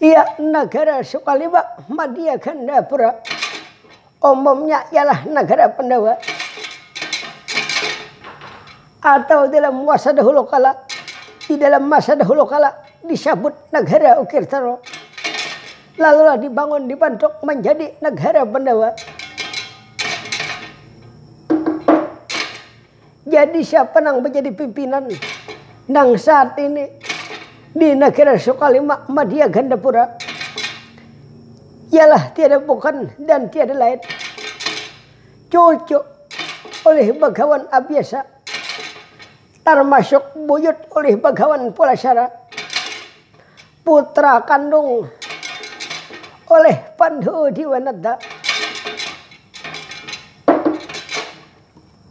Iya nagara Sukaliba, Madia Gandapura. Umumnya ialah nagara Pandawa atau dalam masa dahulu kala di dalam masa dahulu kala disabut Nagara Ukirtaro. Lalulah dibangun dibantuk manjadi Nagara Pandawa. Jadi siapa nang bajadi pimpinan nang saat ini di negara Sukalima Madia Gandapura? Ialah tiada bukan dan tiada lain cucu ulih Bagawan Abiasa, tarmasuk buyut ulih Bagawan Pulasara, putra kandung ulih Pandu Diwanata.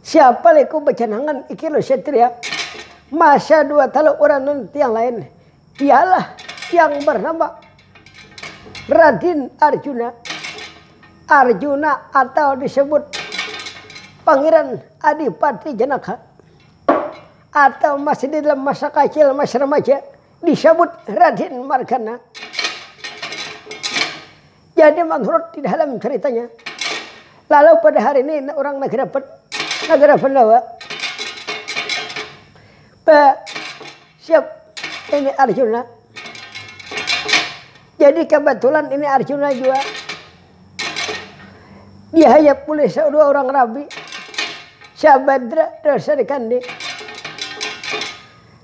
Siapa leh ku bacanangan iki lo satria. Masa dua talu urang nang tiang lain. Ialah yang bernama Radin Arjuna. Arjuna atau disebut Pangeran Adipati Janaka. Atau masih di dalam masa kacil, masih remaja, disebut Radin Margana. Jadi manurut di dalam ceritanya, lalu pada hari ini orang Nagarapat, Nagara Pandawa, siap ini Arjuna. Jadi kebetulan ini Arjuna juga dihayap oleh dua orang rabi Syabadra dan Sarikandi.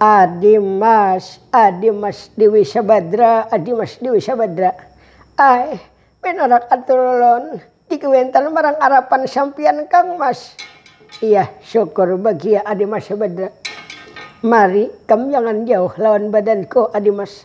Adi Mas, Adi Mas Dewi Sabadra, Adi Mas Dewi Sabadra. Ai, pinarak atur ulun di Kuintan marang arapan sampiyan Kang Mas. Iya, syukur bagia Adi Mas Sabadra. Mari, kam jangan jauh lawan badanku Adi Mas.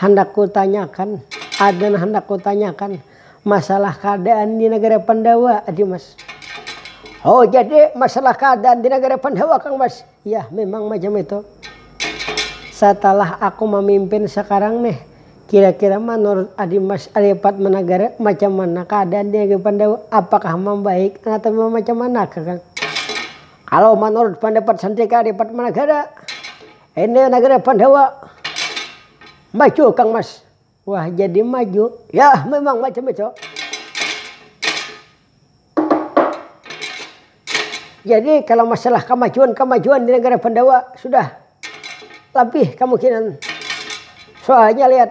Handak ku tanyakan, ada nang handak ku tanyakan masalah keadaan di negara Pandawa adi mas. Oh jadi masalah keadaan di negara Pandawa kang mas, yah memang macam itu. Satalah aku mamimpin sekarang nih, kira kira manurut adi mas lipat menegara macam mana keadaan di negeri Pandawa, apakah membaik atau macam mana kah kang. Kalau menurut pendapat sendiri kak lipat menegara, Ini nagara Pandawa. Maju Kang Mas. Wah jadi maju. Ya memang maju maju. Jadi kalau masalah kemajuan-kemajuan di negara Pandawa sudah lebih kemungkinan. Soalnya lihat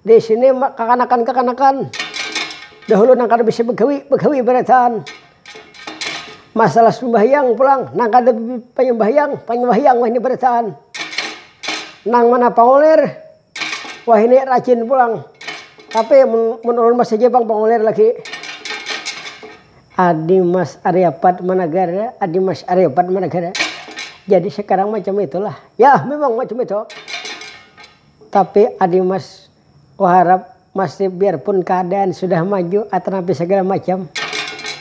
Di sini kakanakan-kakanakan dahulu nang kada bisa bagawi, bagawi barataan. Masalah sumbahyang pulang, nang kada panyumbahyang, panyumbahyang wahini barataan. Nang mana pangulir, wahini rajin pulang. Tapi mun, mun ulun masih ja pang pangulir lagi. Adi Mas Aryapat Managara, Adi Mas Aryapat Managara. Jadi sekarang macam itulah. Yah memang macam itu. Tapi Adi Mas, kuharap masih biarpun keadaan sudah maju atanapi segala macam,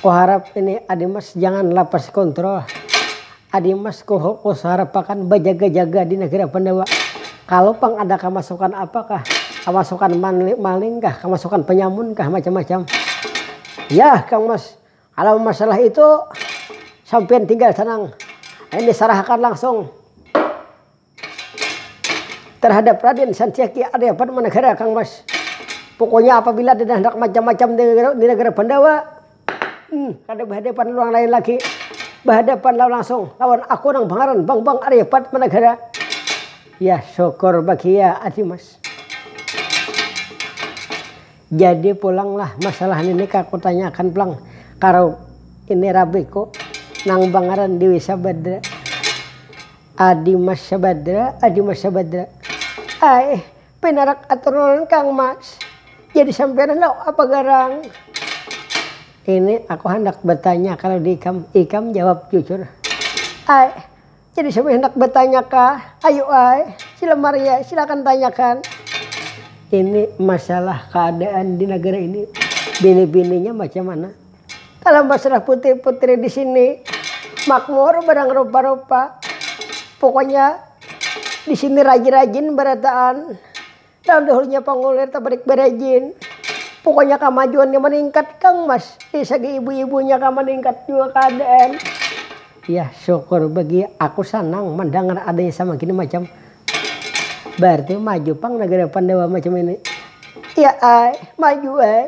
kuharap ini Adi Mas jangan lapas kontrol. Adi Mas kuharapakan bajaga-jaga di Nagara Pandawa. Kalu pang ada kamasukan apa kah, kamasukan maling kah, kamasukan panyamun kah, macam-macam. Yah Kang Mas, kalu masalah itu sampiyan tinggal tenang. Ini sarahakan langsung. Tarhadap Raden Santiaki Arya Padmanagara Kang Mas. Pokoknya apabila ada dahnak macam-macam di nagara Pandawa, hmm kada bahadapan lawan lain lagi, bahadapan lawan langsung lawan aku nang bangaran Bangbang Arya Padmanagara. Yah syukur bagiya ati Mas. Jadi pulanglah masalah nini ka kutanya akan pulang ka ini rabiku nang bangaran Dewi Sabadra. Adi Mas Sabadra, Adi Mas Sabadra. Ai, pinarak atur ulun Kang Mas. Jadi sampiyan handak apa garang? Ini aku handak batanya kalau di ikam, ikam jawab jujur. Ai, jadi sampiyan handak batanya kah? Ayu ai, sila maria, silakan tanyakan. Ini masalah keadaan di nagara ini, bini-bininya macam mana? Kalo basrah putih putri di sini makmur barang rupa-rupa. Pokoknya di sini rajin-rajin barataan. Nang dahulunya pangulir tabarik barajin. Pokoknya kamajuannya maningkat kang mas. Di sagi ibu-ibunya kah maningkat jua kaadaan. Yah syukur bagi aku sanang mandangar adanya samagini macam. Bararti maju pang nagara Pandawa macam ini. Iya ai, maju ai.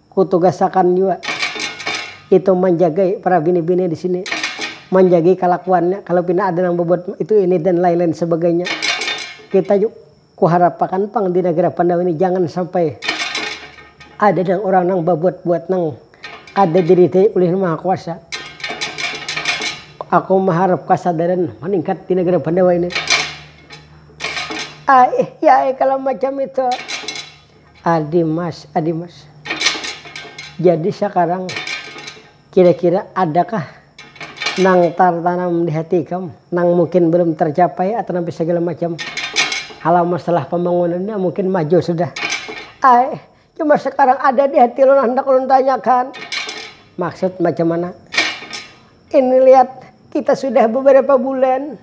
Kutugasakan jua itu manjagai para bini-bini di sini, manjagai kalakuannya kalau pina ada nang babuat itu ini dan lain-lain sebagainya. Kita jua kuharapakan pang di nagara Pandawa ini jangan sampai ada nang urang nang babuat-buat nang kada diridai ulih Nang Maha Kuasa. Aku maharap kasadaran maningkat di nagara Pandawa ini. Aih, ya ai kalau macam itu. Adimas, adimas. Jadi sakarang kira-kira adakah nang tartanam di hati ikam nang mungkin belum tercapai atau nang segala macam halau masalah pembangunannya mungkin maju sudah. Ai, cuma sakarang ada di hati ulun handak ulun tanyakan. Maksud macam mana? Ini lihat kita sudah beberapa bulan,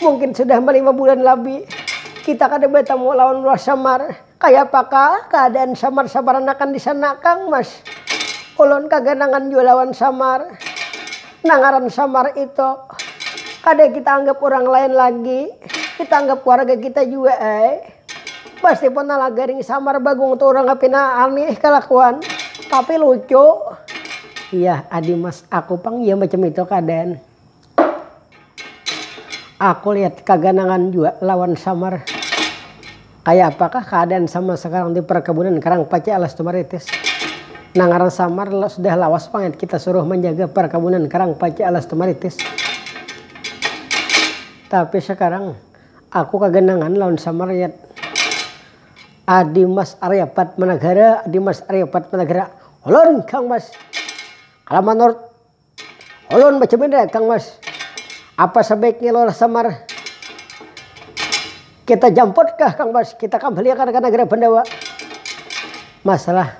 mungkin sudah lima bulan lebih, kita kada bertemu lawan Roh Samar. Kaya apakah keadaan Samar-Samar anakan di sana Kang Mas? Ulun kaganangan jua lawan Samar. Nah ngaran Samar itu, kada kita anggap urang lain lagi, kita anggap keluarga kita jua ai. Meskipun nala garing samar Bagong tu urangnya pina aneh kalakuan tapi lucu. Iyah adi mas aku pang jua macam itu keadaan. Aku lihat kaganangan jua lawan samar. Kaya apakah keadaan samar sekarang di perkebunan Karang Pace alas Tumaritis. Nang ngaran samar sudah lawas pang kita suruh manjaga perkebunan Karang Pace alas Tumaritis. Tapi sekarang. Aku kaganangan lawan Samaryat. Adi Mas Arya Padmanagara, Adi Mas Arya Padmanagara, ulun Kang Mas. Kala manurut ulun macam ini dah Kang Mas. Apa sabaiknya Lurah Samar kita jamputkah Kang Mas, kita kambaliakan ka Nagara Bandawa. Masalah.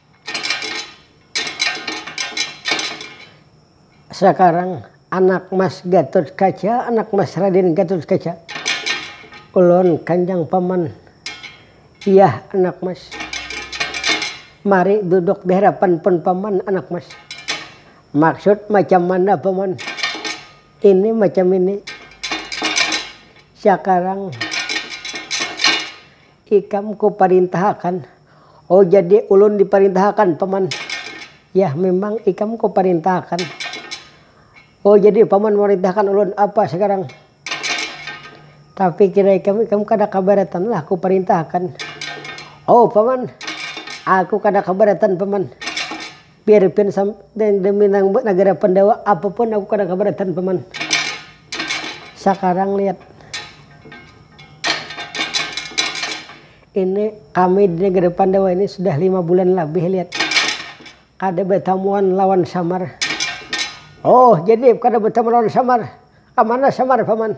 Sakarang anak mas Gatut Kaca, anak mas Raden Gatut Kaca. Ulun kanjang paman iyah anak mas. Mari duduk di hadapan pun paman anak mas. Maksud macam mana paman? Ini macam ini. Sakarang. Ikam ku parintahakan. Oh jadi ulun diparintahakan paman. Yah memang ikam ku parintahakan. Oh jadi paman marintahakan ulun apa sekarang. Tapi kira ikam, ikam kada kabaratan lah ku parintahakan. Oh paman, aku kada kabaratan paman. Piripin sampai demi nang nagara pandawa apapun aku kada kabaratan paman sakarang lihat ini kami di nagara pandawa ini sudah lima bulan labih lihat kada batamuan lawan samar oh jadi kada batamuan lawan samar kamana samar paman.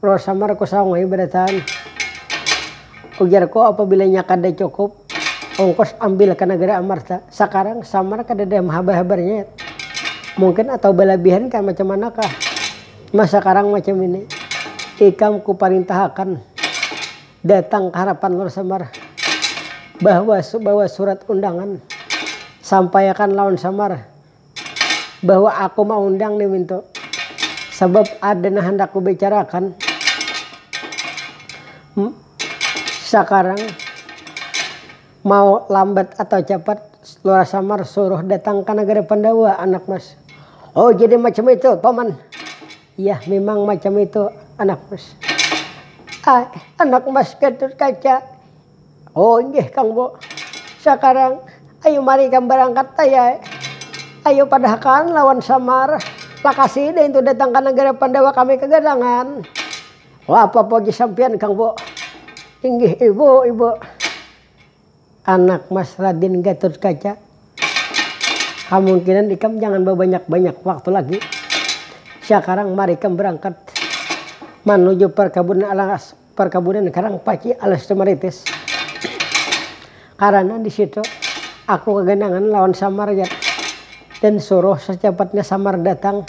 Lor samar ku saung ai badataan. Ujarku apabila inya kada cukup ongkos ambil ka nagara amarta. Sakarang samar kadada habar-habarnya yet. Mungkin atau balabihan kah macam mana kah mah sakarang macam ini. Ikam ku parintahakan datang ka harapan lor samar. Bahwa bawa surat undangan. Sampaiakan lawan samar. bahwa aku maundang nih Winto sabab ada nang handak kubicarakan. Hm, sakarang mau lambat atau capat, Lurah Samar suruh datang ka Nagara Pandawa anak Mas. Oh, jadi macam itu, Paman? Yah, mimang macam itu, anak Mas. Ai, anak Mas Gatotkaca, Oh inggih kang bo, sakarang ayu mari ikam barangkat ayai, ayu padahkan lawan samar, lakasi deh intu datang ka nagara pandawa kami kagadangan, oh apa poji sampiyan kang bo, inggih ibu ibu, anak mas radin gatut kaca, kamungkinan ikam jangan babanyak banyak waktu lagi, sakarang mari ikam barangkat manuju parkabunan alas Parkabunan karang paci alas tumaritis. Karana di situ aku kaganangan lawan Samar jar dan suruh sacapatnya Samar datang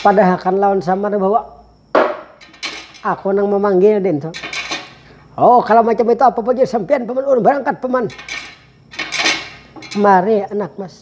padahakan lawan Samar bahwa aku nang mamanggil dintu. Oh, kalo macam itu apa bujur sampiyan paman ulun barangkat paman. Mari anak mas.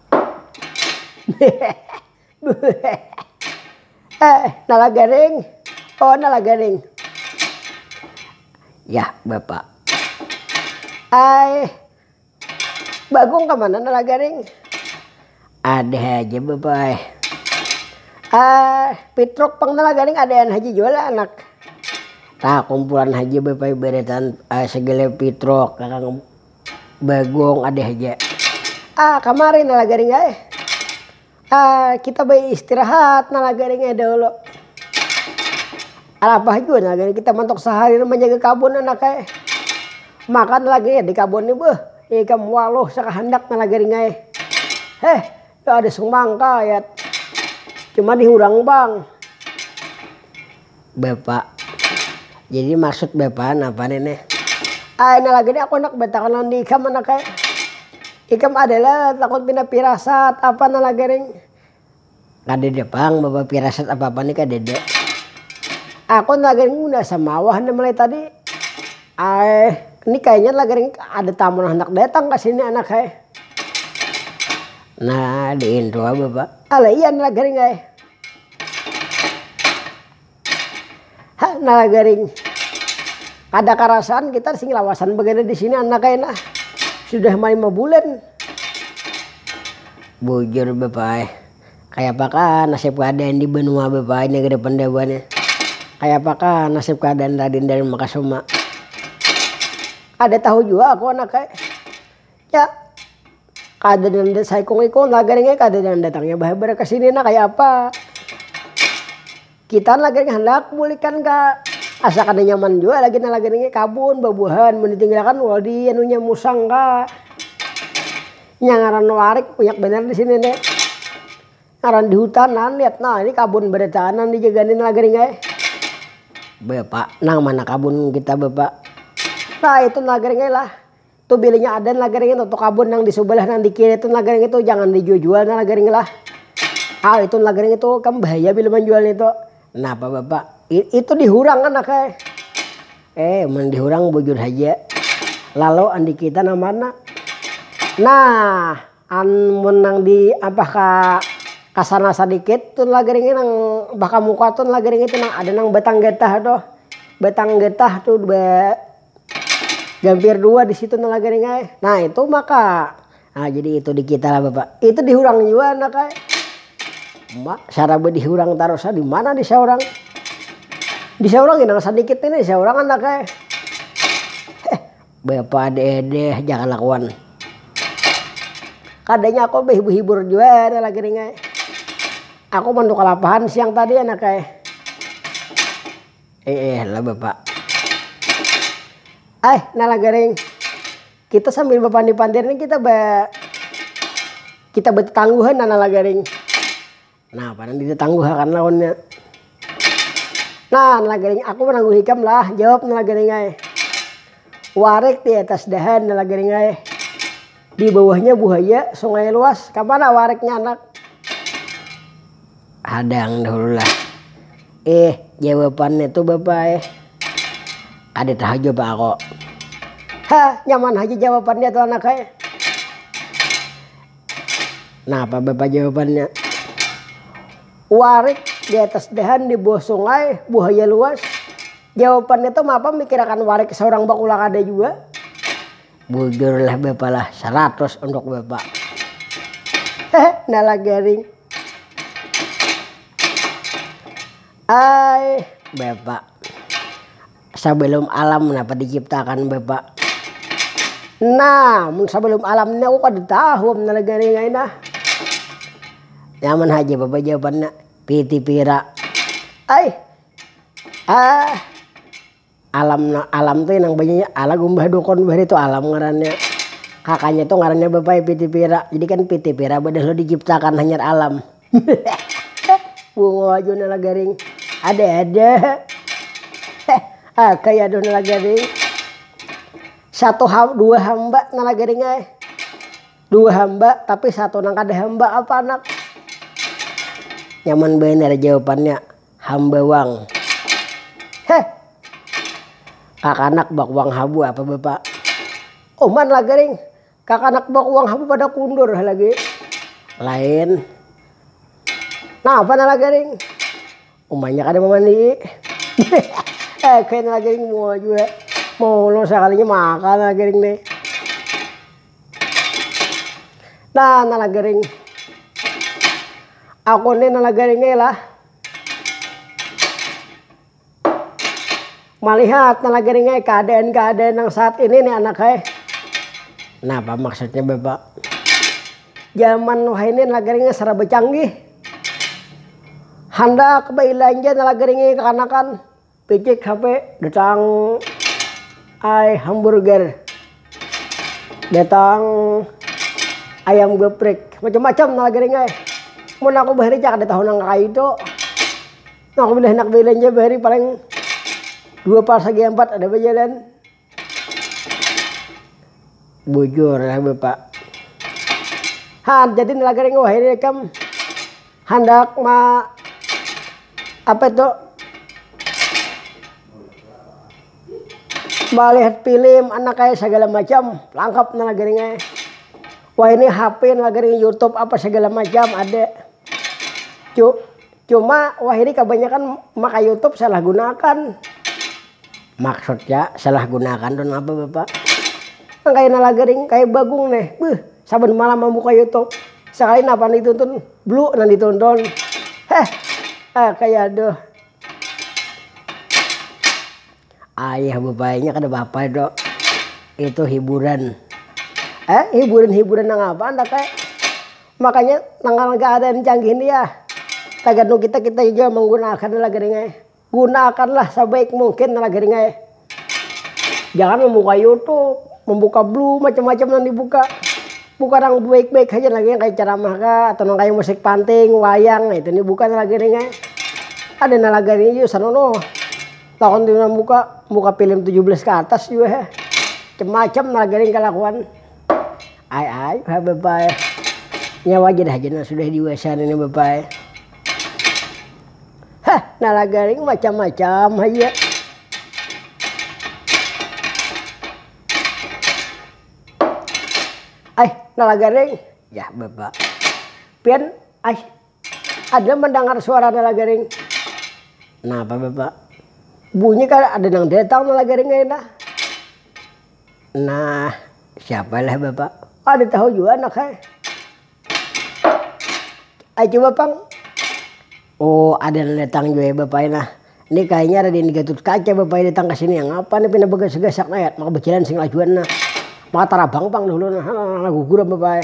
eh nala garing oh nala garing yah bapak ai mbak gung kemana nala garing ada haja bapak ai ah pitruk pang nala garing adaan haja jua lah anak tah kumpulan haja bapak ai baretan ai segala pitruk kakang. bagong ada haja. Ah kamari nala garing ai. Ah kita bayi istirahat nala garing ai dahulu. Alabah jua nala garing kita mantuk sahari manjaga kabun anak ai. Makan lagi di kabun ni beuh ikam waluh sakahandak nala garing ai. Heh Ya ada semangka ya. Cuma dihurang bang. Bapak. Jadi maksud bapak apa nih nih? Ah ini lagi nih aku nak betakan lawan di ikam anak kayak. Ikam adalah takut pina pirasat apa nih lagi ring. Kadede pang bapak pirasat apa apa nih kadede. Aku lagi ring udah samawah nih mulai tadi. Aih, ni kayanya lagar ini ada tamu nang handak datang ka sini anak ai. Nah, di intro ai bapak. Alah iya nah lagaring ai. Ha nah lagaring. Kada karasaan kita sing lawasan bagada di sini anak ai nah. Sudah ma lima bulan. Bujur bapak ai. Kayapakah nasib kaadaan di banua bapaai negeri Pandawa nih? Kayapakah nasib kaadaan Radin Danu Makasuma? Kada tahu jua aku anak ai. Ya, kada nanda saikung-ikung tagal nih kada nang datangnya bahabar ka sini nah kaya apa. Kita lagi ni handak bulikan ka asa kada nyaman jua lagi nah lagi ni kabun babuahan mun ditinggal akan wah di anunya musang ka nya ngaran warik banyak banar di sini ni ngaran di hutan nah lihat nah ini kabun barataan nang di jaga ni lagi ni ai bapak nang mana kabun kita bapak nah itu lagi ni lah. Tu bilinya adan lah gering itu, tu kabun nang di subalah nang di kiri tun lah gering itu, jangan di jual jual nah lah gering lah, hal itu lah gering itu, kam bahaya bila manjual itu, napa bapak itu di hurang kan akai, eh mun di hurang bujur haja, lalu andi kita nang mana, nah an mun nang di ampah ka kasana sadikit tun lah gering nang ampah ka muka tun lah gering itu nang ada nang batang getah tuh, batang getah tuh ba. Gampir dua di situ nah lagaring ai. Nah itu maka. Nah jadi itu di kita lah Bapak. Itu di hurang jua anak ai. Ma, saraba di hurang tarus di mana di saurang. Di saurang inang sadikit ini di saurang anak ai. Eh, Bapak deh deh jangan lakuan. Kadanya aku behibur-hibur jua ada lagi ringai. Aku mandu kalapahan siang tadi anak ai. Eeh lah bapa. Aih nah lah garing. Kita sambil bapandir-pandir nih kita ba kita batatangguhan nah lah garing. Nah panan ditatangguhakan lawannya. Nah lah garing aku manangguh ikam lah, jawab nah lah garing ai. Warek di atas dahan nah lah garing ai. Di bawahnya buhaya, sungai luas, kamana wariknya anak. Hadang dahulu lah. Eh, jawabannya tu bapa eh. Kada tahu jua pang aku. Ha, nyaman haja jawabannya tu anak eh. Napa bapa jawabannya? Warik di atas dahan di bawah sungai, buhaya luas. Jawabannya tu mapa mikirakan warik saurang bakulah kada jua. bujur lah bapa lah saratus untuk bapa nala garing ai bapa sebelum alam napa diciptakan bapa nah mun sebelum alam ni aku kada tahu nala garing ai nah nyaman haja bapa jawabannya piti pira ai ah. Alam na, alam tu inang banyanyi ala gumbah dukun bah itu alam ngarannya. Kakanya tu ngarannya bapai pitipira, jadi kan pitipira badah lo dijiptakan hanyar alam. Bungo jua nala garing. Ada ada. Akai aduh nala garing. Satu ha dua hamba nala garing ai. Dua hamba tapi satu nang kada hamba apa anak. Nyaman banar jawapannya. hambawang heh kakanak bakuang habu apa bapa uman lagaring kakanak bakuang habu pada kundur lagi lain napa nah lagaring umanya kada mamandii eh kena lagaring mua jua mulu sakalinya makan lagaring nih Nah, nala garing. Aku ni nala garing ai lah. Malihat nala garing ai keadaan-keadaan yang saat ini nih anak ai. Napa maksudnya Bapak? Zaman wahini nala garingnya serba canggih. Handak bailanja nala garingnya kekanakan. Picik HP datang ai hamburger datang ayam geprek macam-macam nala gering ai mun aku bahari cak ada tahu nang kaya itu aku handak belanja bahari paling dua pas lagi empat ada bajalan. bujur ya bapak ha jadi laga ringu ini kam handak ma apa itu malihat film anak kayak segala macam lengkap nih laga ringu wah ini HP laga ringu YouTube apa segala macam ada cuk Cuma wahini kabanyakan maka youtube salah gunakan. Maksudnya salah gunakan tu napa bapak? Nang kaya nala garing kaya bagung neh beuh saban malam mambuka youtube sakali napa nang dituntun blu nang dituntun heh ah kaya aduh. Ayah bapayanya kada bapa itu, itu hiburan eh hiburan hiburan nang apa andak eh. Makanya nang keadaan canggih ni ya tagantung kita, kita jua menggunaakan laga ring ai. Gunaakanlah sebaik mungkin laga ring ai. Jangan membuka youtube, membuka blue, macam-macam nang dibuka. Buka nang baik-baik haja nang kaya ceramah kah, atau nang kaya musik panting, wayang, nah itu ni buka nang laga ring ai. Ada nang laga ring jua sana noh. Lawan tu nang buka, buka film tujuh belas ke atas jua ha. Macam-macam nang laga ring kalakuan. Ai-ai ha bapai. Nya waja dah aja nang sudah diwasa nini bapai. Hah nalagaring macam-macam haja. Ai nalagaring, jar bapa. Pian ai. Ada mandangar suara nalagaring. Napa bapak? Bunyi kah ada nang datang nalagaring ai nah. Nah, siapa lah bapak? Kada tahu jua anak ai. Ai coba pang. Oh, ada nang datang jua ya bapak ai nah. Ni kayanya Raden Gatutkaca bapak ai datang kasini. Ngapa ni pina bagasak-gasak ai. Maka bajalan sing lajuan nah. Maka tarabang pang dahulu nah. Nah, gugur am bapak ai.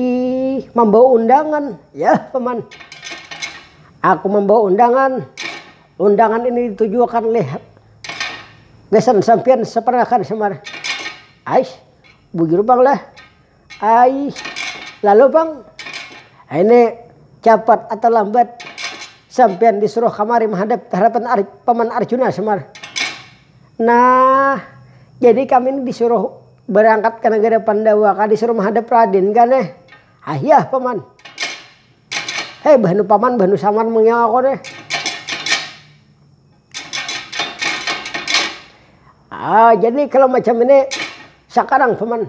Ih, mambawa undangan. Ya, Paman. Aku membawa undangan. Undangan ini ditujuakan oleh besan sampian sepenakan semar. Ais, bujur bang lah. Ais, lalu bang, ini cepat atau lambat sampian disuruh kamari menghadap hadapan Ar Paman Arjuna semar. Nah, jadi kami ni disuruh barangkat ka nagara Pandawa kah disuruh mahadap Raden kah neh. Hayah paman. Hei bah nu paman bah nu samar mangiyau aku neh. Haa jadi kalo macam ini sakarang paman.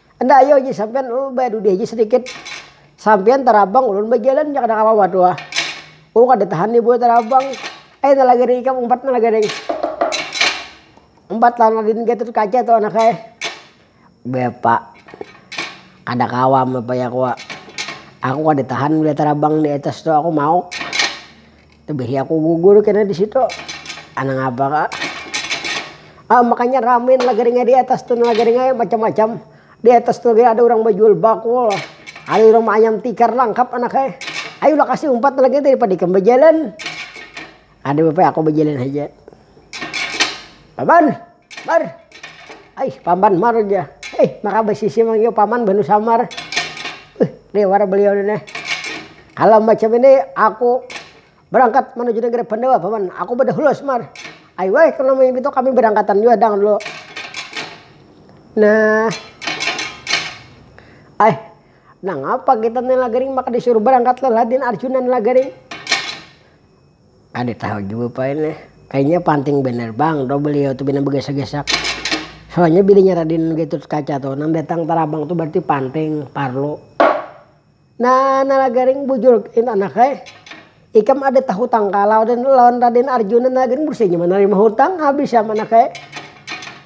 Enda ayu haji sampian ulun badudi haji sedikit sampian tarabang ulun bajalan ja kada kawa tuha oh kada tahan nih buah tarabang ai nala garing ikam umpat nala garing umpat lawan wadin gatur kaca tuh anak ai bepa kada kawa am bepa ya aku kada tahan melihat tarabang diatas tuh aku mauk. Tebehi aku gugur kena di situ. Anang apa ka. Ah makanya ramin lagaringnya di atas tu lagaringnya macam-macam. Di atas tu lagi ada urang bajual bakul. Ada urang maanyam tikar langkap anak ai. Ayu lah kasi umpat lagi dari pada ikam bajalan. Kada papa aku bajalan haja. Paban. Mar. Aih paman mar jar. Aih maka basisi mang jua paman banu samar. Uih liwar beliau ni nah. Kalo macam ini aku barangkat manuju nagara pandawa paman. Aku badahulu smar. Ayu ai kalo nang itu kami barangkatan jua dang dulu. Nah. Aih nangapa kita ni lagaring maka disuruh barangkat lalah din arjuna ni lagaring. Kada tahu jua pang ini. Kayanya panting banar pang tu beliau tu pina bagasak-gasak. Soalnya bininya Radin Gatotkaca tu nang datang tarabang tu bararti panting, parlu. Nah, Nalagaring bujur itu anak ai. Ikam ada tahutang kah lawan Raden Arjuna? Nalagaring bursainya mana lima hutang, habis am anak ai.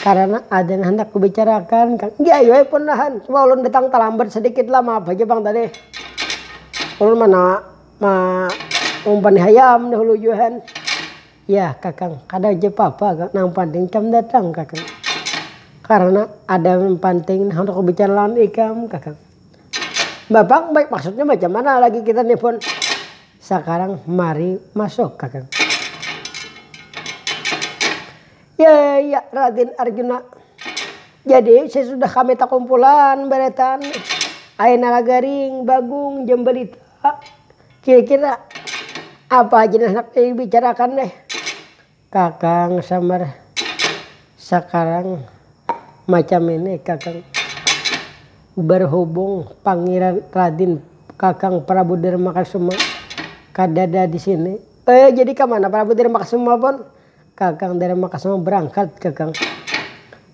Karana ada nang handak kubicarakan kang. Iya ai weh pon lah han, cuma ulun datang talambat sadikit lah, maaf haja pang tadi. Ulun mana maumpani hayam dahulu jua han. Yah kakang, kada papa kang, nang panting ikam datang kakang. Karana ada nang panting nang handak kubicara lawan ikam kakang. Mbah pang, maksudnya macam mana lagi kita nih pon. Sakarang mari masuk kakang. Ya, ya, Raden Arjuna. Jadi, sesudah kami takumpulan baretan, Ae Nalagaring, Bagong, Jambalita, kira-kira apa haja nang handak dibicarakan deh. Kakang Samar, sakarang macam ini Kakang, berhubung Pangeran Raden Kakang Prabu Darmakasuma kadada di sini. Eh, jadi ka mana Prabu Darmakasuma pun? Kakang Dharma Kasama barangkat kakang,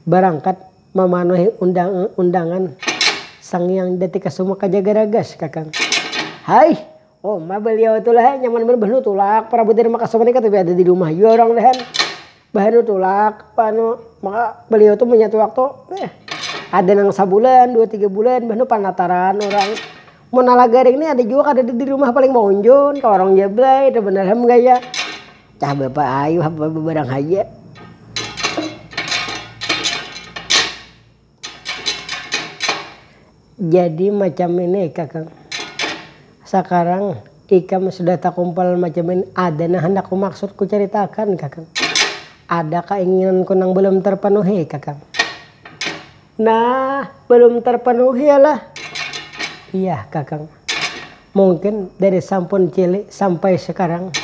barangkat mamanuhi undangan Sang Hyang Jati Kasuma ka Jagaragas kakang. Haih, uma baliau tu lah nyaman banar bahanu tulak Prabu Dharma Kasama ni katuju ada di rumah jua urang lah. Bahanu tulak baliau tu munnya tulak tu ada nang sabulan, dua tiga bulan bahanu panataran urang. Mun nala garing ni ada jua kadada di rumah paling maunjun ka warung Jablay, itu banar ham gaya. Cah bapa ayuh apa babarang haja. Jadi macam ini kakang. Sakarang ikam sudah takumpal macam ini ada nang handak kumaksud kucaritakan kakang. Ada kainginanku nang balum tarpanuhi kakang. Nah, belum terpenuhi lah. Iya kakang, mungkin dari sampun cilik sampai sekarang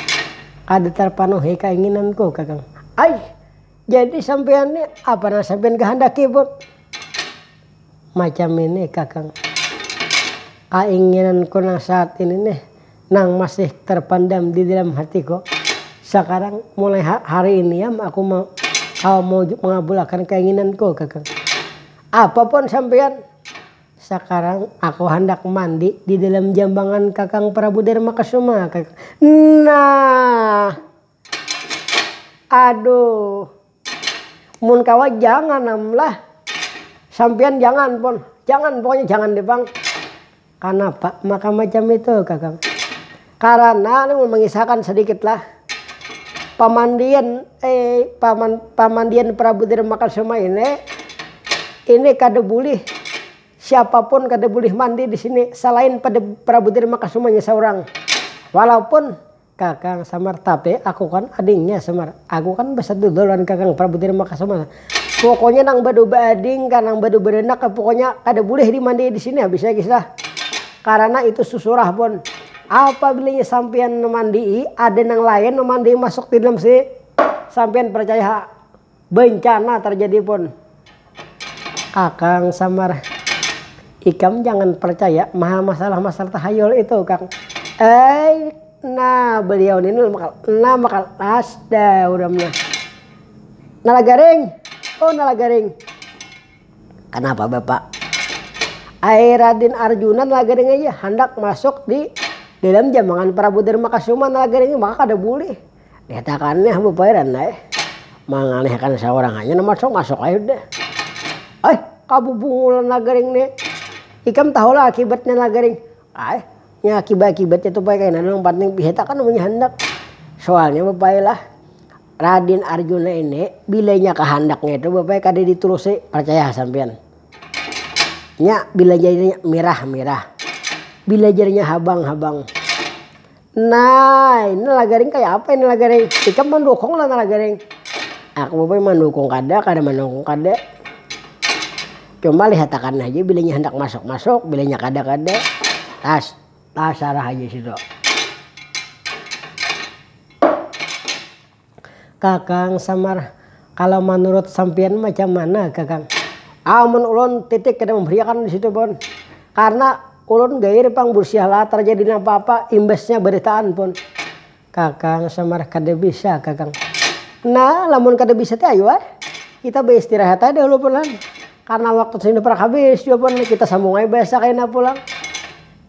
kada terpenuhi kainginanku kakang. Ai, jadi sampean ni apa nang sampean kehendaki pun macam ini kakang, kainginanku nang saat ini nih. nang masih tarpandam di dalam hatiku. Sakarang, mulai hari ini am aku kawa mawujud mangabulakan kainginanku, kakang. Apa pun sampiyan! Sakarang aku handak mandi di dalam jambangan kakang Prabu Darmakasuma, kakang. Nah! Aduh! mun kawa janganam lah sampian jangan pon jangan pokoknya jangan deh pang kanapa maka macam itu kakang karana nih mengisahkan sedikit lah pamandian eh paman pamandian prabu tirmakasuma ini ini kada bulih siapapun kada bulih mandi di sini selain pada prabu tirmakasumanya seorang walaupun. Kakang Samar, tapi aku kan adingnya Samar, aku kan basadudul lawan kakang Prabu Dharmakasuma, pokoknya nang badu baading kah nang badu baranak kah pokoknya kada bulih dimandai disini habis ya guys lah, karana itu susurah pun, apabila inya sampiyan mamandii ada nang lain mamandai masuk didalam sini sampiyan parcaya ha. Bencana terjadi pun. Akang samar. Ikam jangan percaya maha masalah-masalah tahayul itu kang. Eeii nah beliau ni nah makal nah makal ass dah urang mah. Nala garing? Oh nala garing. Kenapa bapak? Ai Radin Arjuna nala garing aja handak masuk di dalam jambangan Prabu Darmakasuma nala garing maka kada bulih. Dikatakan nih bu pairan deh. Mangalihkan seorang aja nama sok masuk aja deh. Eh, kabu bungulan lagaring nih. Ikam tahu lah akibatnya lagaring. Eh, ya akibat-akibatnya tuh pakai kena yang penting dikatakan namanya handak. Soalnya bapak lah Radin Arjuna ini bilanya kehandaknya itu bapak kada diturusi percaya sampean. Nya bila jadinya mirah-mirah. Bila jadinya habang-habang. Nah, ini lah garing kaya apa ini lah garing. Ikam mandukung lah lah garing. Aku bapak mandukung kada, kada mandukung kada. Cuma lihatakan haja bilanya handak masuk-masuk, bilanya kada-kada. Tas, tas sarah haja situ. Kakang samar, kalau manurut sampiyan macam mana kakang? Amun ulun titik kada mambariakan disitu pun, karna ulun gair pang busiahlah tarjadi napa apa imbasnya baritaan pun. Kakang samar, kada bisa kakang. Nah lamun kada bisa ti ayu ai kita baistirahat ai dahulu pulang, karna waktu sudah parkabis jua pun kita sambung ai bahasa kaina pulang.